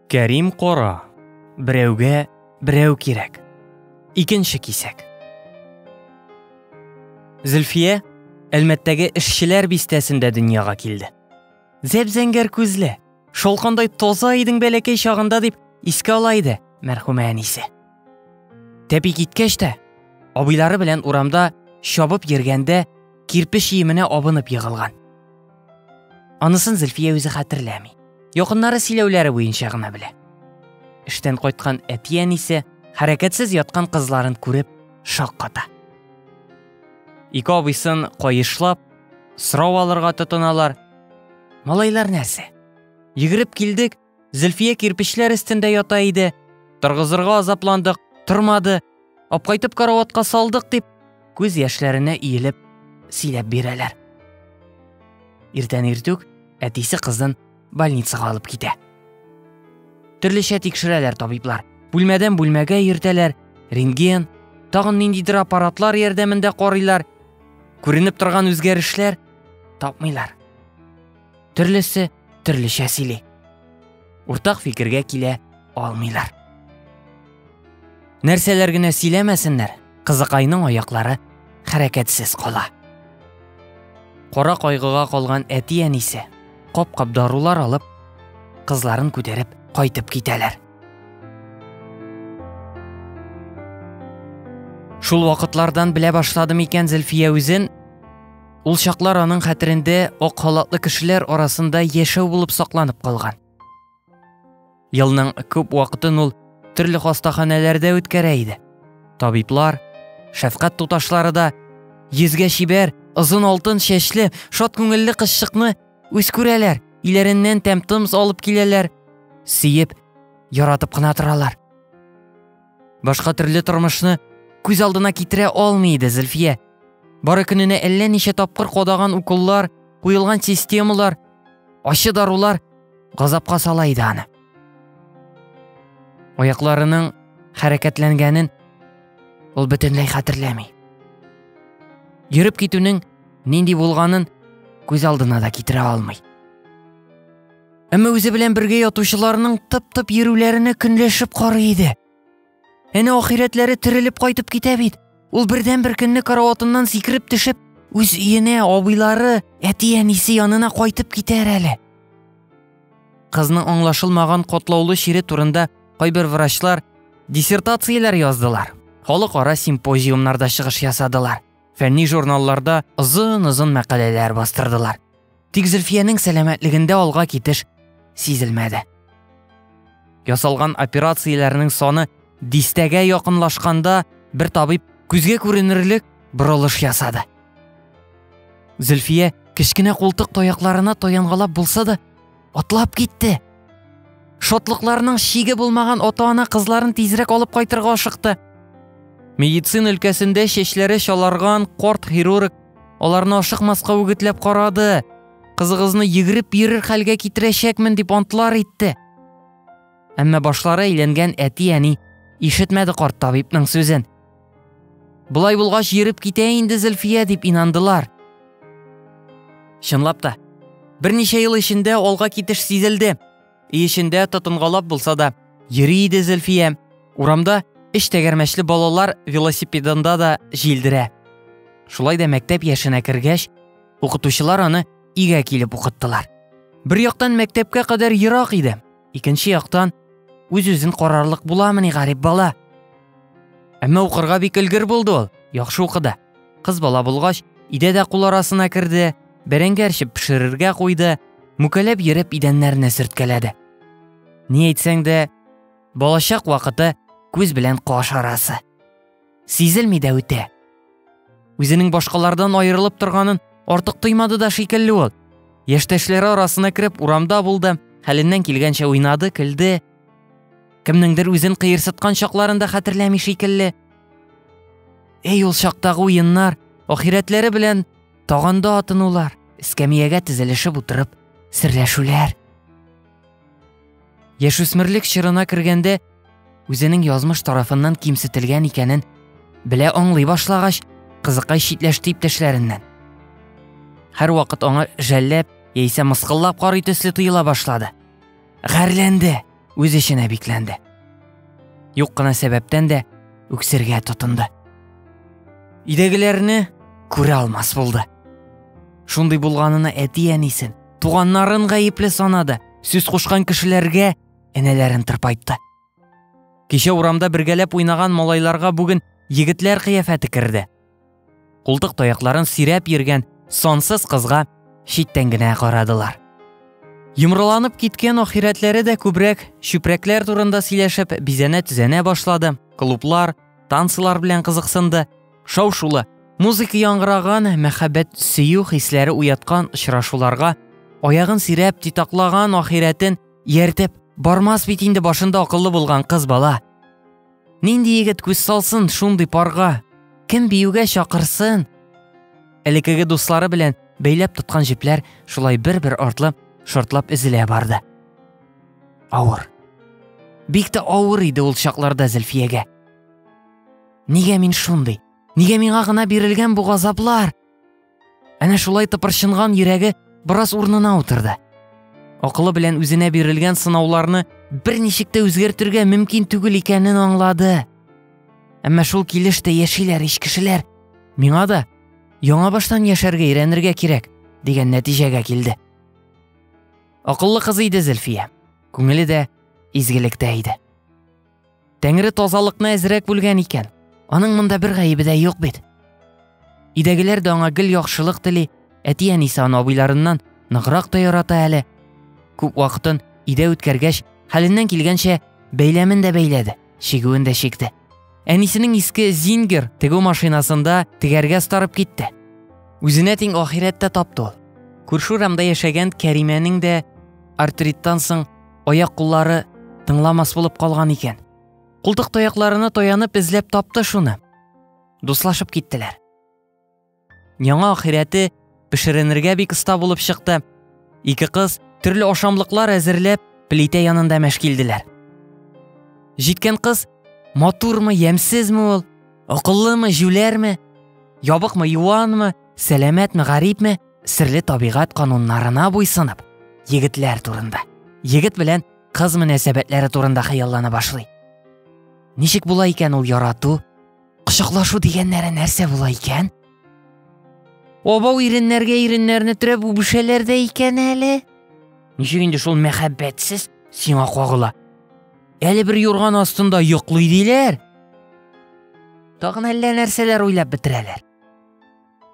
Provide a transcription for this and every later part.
Кәрим кара, берәүгә берәү кирәк. Икенче кисәк. Зөлфия Әлмәттәге эшчеләр бистәсендә дөньяга килде. Зәп-зәңгәр күзле, шолкандай таза идең бәләкәй чагында дип искә ала иде мәрхүмә әнисе. Тәпи киткәч тә, абыйлары белән урамда чабып йөргәндә кирпеч иеменә абынып егылган. Анысын Зөлфия үзе хәтерләми. Якыннары сөйләүләре буенча гына белә. Эштән кайткан әтиян исә хәрәкәтсез яткан кызларын күреп шакката. Ике абыйсын кайышлап, сорау алырга тотыналар. Малайлар нәрсә? Йөгереп килдек, Зөлфия кирпечләр өстендә ята иде. Торгызырга азапландык, тормады. Апкайтып караватка салдык дип, күз яшьләренә иелеп сөйләп бирәләр. Иртән иртүк әтисе кызын больницага алып китә. Төрлечә тикшерәләр табиблар. Бүлмәдән бүлмәгә йөртәләр, рентген, тагын ниндидер аппаратлар ярдәмендә карыйлар. Күренеп торган үзгәрешләр тапмыйлар. Төрлесе төрлечә сөйли. Уртак фикергә килә алмыйлар. Нәрсәләр генә сөйләмәсеннәр, кызыкайның аяклары хәрәкәтсез кала. Кара кайгыга калган әти әнисе кап-кап дарулар алып, кызларын күтәреп кайтып китәләр. Шул вакытлардан белә башладым икән Зөлфия үзен Ул чаклар аның хәтерендә ак халатлы кешеләр арасында яшәү булып сакланып калган. Елның күп вакытын ул төрле хастаханәләрдә үткәрә иде. Табиблар, шәфкать туташлары да йөзгә чибәр, озын алтын чәчле, шат күңелле кызчыкны үз күрәләр, иләреннән тәм-томс алып киләләр, сөеп, яратып кына торалар. Башка төрле тормышны күз алдына китерә алмый иде Зөлфия. Бары көненә әллә ничә тапкыр кодаган уколлар, куелган системалар, ачы дарулар газапка сала иде аны. Аякларының хәрәкәтләнгәнен ул бөтенләй хәтерләми. Йөреп китүнең нинди булганын күз алдына да китерә алмый. Әмма үзе белән бергә ятучыларның тып-тып йөрүләренә көнләшеп карый иде. Әнә ахирәтләре терелеп кайтып китә бит. Ул бердән бер көнне караватыннан сикереп төшеп, үз өенә, абыйлары, әти-әнисе янына кайтып китәр әле. Кызның аңлашылмаган котлаулы чире турында кайбер врачлар диссертацияләр яздылар. Халыкара симпозиумнарда чыгыш ясадылар. Фәнни журналларда озын-озын мәкаләләр бастырдылар. Тик Зөлфиянең сәламәтлегендә алга китеш сизелмәде. Ясалган операцияләрнең саны дистәгә якынлашканда бер табиб күзгә күренерлек борылыш ясады. Зөлфия кечкенә култык таякларына таянгалап булса да, атлап китте. Шатлыкларының чиге булмаган ата-ана кызларын тизрәк алып кайтырга ашыкты. Медицин өлкәсендә чәчләре чаларган корт хирург аларны ашыкмаска үгетләп карады. Кызыгызны йөгереп йөрер хәлгә китерәчәкмен дип антлар итте. Әмма башлары әйләнгән әти-әни ишетмәде корт табибның сүзен. Болай булгач, йөреп китә инде Зөлфия дип инандылар. Чынлап та, берничә ел эчендә алга китеш сизелде. И эчендә тотынгалап булса да, йөри иде Зөлфия. Урамда эш тәгәрмәчле балалар велосипедында да җилдерә. Шулай да мәктәп яшенә кергәч, укытучылар аны игә килеп укыттылар. Бер яктан мәктәпкә кадәр ерак иде. Икенче яктан, үз-үзен карарлык буламыни гарип бала? Әмма укырга бик өлгер булды ул, яхшы укыды. Кыз бала булгач, идә дә кул арасына керде, бәрәңге әрчеп пешерергә куйды, мүкәләп йөреп идәннәрне сөрткәләде. Ни әйтсәң дә, балачак вакыты күз белән каш арасы. сизелми дә үтә. Үзенең башкалардан аерылып торганын артык тоймады да шикелле ул. Яшьтәшләре арасына кереп урамда булды, хәленнән килгәнчә уйнады, көлде. Кемнеңдер үзен кыерсыткан чакларын да хәтерләми шикелле. Эй ул чактагы уеннар, ахирәтләре белән таганда атынулар, эскәмиягә тезелешеп утырып, серләшүләр. Яшүсмерлек чорына кергәндә үзенең язмыш тарафыннан кимсетелгән икәнен белә аңлый башлагач, кызыкай читләште иптәшләреннән. Һәрвакыт аңа жәлләп яисә мыскыллап карый төсле тоела башлады. Гәрләнде, үз эченә бикләнде. Юк кына сәбәптән дә үксергә тотынды. Идәгеләрне күрә алмас булды. Шундый булганына әти-әнисен, туганнарын гаепле санады, сүз кушкан кешеләргә энәләрен тырпайтты. Кичә урамда бергәләп уйнаган малайларга бүген егетләр кыяфәте керде. Култык таякларын сирәп йөргән сансыз кызга читтән генә карадылар. Йомрыланып киткән ахирәтләре дә күбрәк чүпрәкләр турында сөйләшеп бизәнә-төзәнә башлады. Клублар, танцлар белән кызыксынды. Шау-шулы, музыка яңгыраган, мәхәббәт, сөю хисләре уяткан очрашуларга аягын сирәп титаклаган ахирәтен ияртеп бармас бит инде башында акыллы булган кыз бала. Нинди егет күз салсын шундый парга? Кем биюгә чакырсын? Элекеге дуслары белән бәйләп тоткан җепләр шулай бер-бер артлы шортлап өзелә барды. Авыр. Бик тә авыр иде ул чакларда Зөлфиягә. Нигә мин шундый? Нигә миңа гына бирелгән бу газаплар? Әнә шулай тыпырчынган йөрәге бераз урынына утырды. Акылы белән үзенә бирелгән сынауларны берничек тә үзгәртергә мөмкин түгел икәнен аңлады. Әмма шул килеш тә яшиләр ич кешеләр. Миңа да яңа баштан яшәргә өйрәнергә кирәк, дигән нәтиҗәгә килде. Акыллы кыз иде Зөлфия. Күңеле дә изгелектә иде. Тәңре тазалыкны әзрәк бүлгән икән. Аның монда бер гаебе дә юк бит. Идәгеләр дә аңа гел яхшылык тели, әти әнисе аны абыйларыннан ныграк та ярата әле. Күп вакытын өйдә үткәргәч, хәленнән килгәнчә бәйләмен дә бәйләде, чигүен дә чикте. Әнисенең иске Зингер тегү машинасында тегәргә старып китте. Үзенә тиң ахирәттә тапты ул. Күрше урамда яшәгән Кәримәнең дә артриттан соң аяк-куллары тыңламас булып калган икән. Култык таякларына таянып эзләп тапты шуны. Дуслашып киттеләр. Яңа ахирәте пешеренергә бик оста булып чыкты. Ике кыз төрле ашамлыклар әзерләп, плитә янында мәшкилделәр. Җиткән кыз матурмы, ямьсезме ул, акыллымы, җүләрме, ябыкмы, юанмы, сәламәтме, гарипме, Серле табигать кануннарына буйсынып, егетләр турында, егет белән кыз мөнәсәбәтләре турында хыяллана башлый. Ничек була икән ул ярату? Кочаклашу дигәннәре нәрсә була икән? Обау иреннәргә иреннәрне төрәп үбешәләр дә икән әле. Ничек инде шул мәхәббәтсез сиңа кагыла? Әле бер юрган астында йоклый диләр. Тагын әллә нәрсәләр уйлап бетерәләр.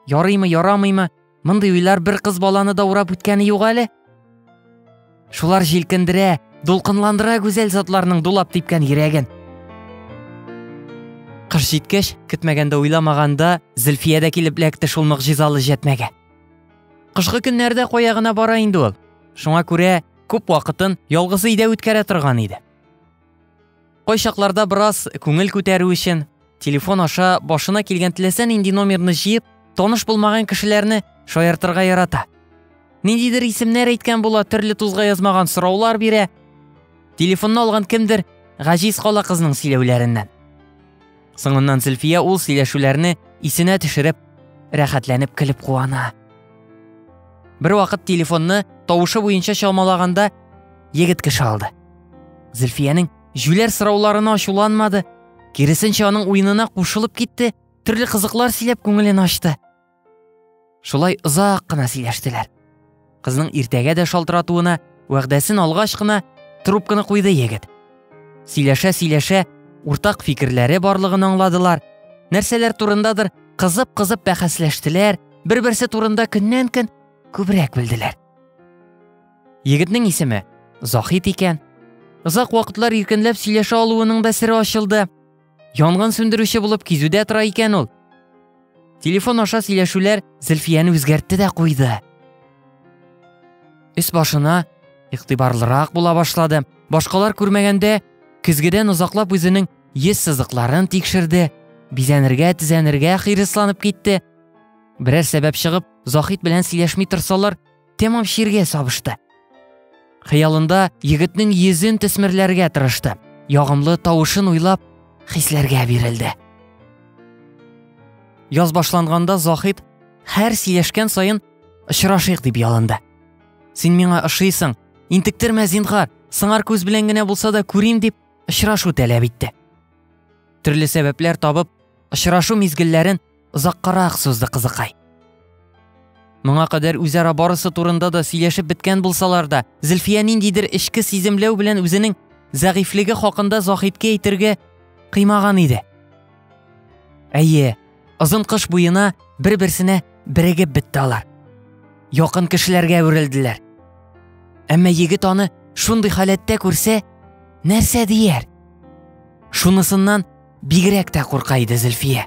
Ярыймы, ярамыймы? Мондый уйлар бер кыз баланы да урап үткәне юк әле. Шулар җилкендерә, дулкынландыра гүзәл затларның дулап типкән йөрәген. Кыш җиткәч, көтмәгәндә уйламаганда, Зөлфия дә килеп эләкте шул могҗизалы җәтмәгә. Кышкы көннәрдә кая гына бара инде ул. Шуңа күрә күп вакытын ялгызы өйдә үткәрә торган иде. Кайчакларда бераз күңел күтәрү өчен, телефон аша башына килгән теләсә нинди номерны җыеп, таныш булмаган кешеләрне шаяртырга ярата. Ниндидер исемнәр әйткән була, төрле тузга язмаган сораулар бирә. Телефонны алган кемдер гаҗиз кала кызның сөйләүләреннән. Соңыннан Зөлфия ул сөйләшүләрне исенә төшереп, рәхәтләнеп көлеп куана. Бер вакыт телефонны тавышы буенча чалмалаганда егет кеше алды. Зөлфиянең җүләр сорауларына ачуланмады, киресенчә аның уенына кушылып китте, төрле кызыклар сөйләп күңелен ачты. Шулай озак кына сөйләштеләр. Кызның иртәгә дә шалтыратуына вәгъдәсен алгач кына трубканы куйды егет. Сөйләшә-сөйләшә уртак фикерләре барлыгын аңладылар. Нәрсәләр турындадыр кызып-кызып бәхәсләштеләр, бер-берсе турында көннән-көн күбрәк белделәр. Егетнең исеме Захит икән. Озак вакытлар иркенләп сөйләшә алуының да сере ачылды. Янгын сүндерүче булып кизүдә тора икән ул. Телефон аша сөйләшүләр Зөлфияне үзгәртте дә куйды. Өс башына игътибарлырак була башлады. Башкалар күрмәгәндә, көзгедән озаклап үзенең йөз сызыкларын тикшерде, бизәнергә, тезәнергә хирысланып китте. Берәр сәбәп чыгып, Захит белән сөйләшми торсалар, тәмам чиргә сабышты. Хыялында егетнең йөзен төсмерләргә тырышты. Ягымлы тавышын уйлап, хисләргә бирелде. Яз башланганда Захид һәр сөйләшкән саен очрашыйк дип ялынды. Син миңа ошыйсың, интектермә зинхар, сыңар күз белән генә булса да күрим дип очрашу таләп итте. Төрле сәбәпләр табып, очрашу мизгелләрен Озаккарак сузды кызыкай. Моңа кадәр үзара барысы турында да сөйләшеп беткән булсалар да, Зөлфия ниндидер эчке сиземләү белән үзенең зәгыйфьлеге хакында Заһидкә әйтергә кыймаган иде. Әйе, озын кыш буена бер-берсенә берегеп бетте алар. Якын кешеләргә әверелделәр. Әмма егет аны шундый халәттә күрсә, нәрсә дияр? Шунысыннан Бигрәк тә курка иде Зөлфия.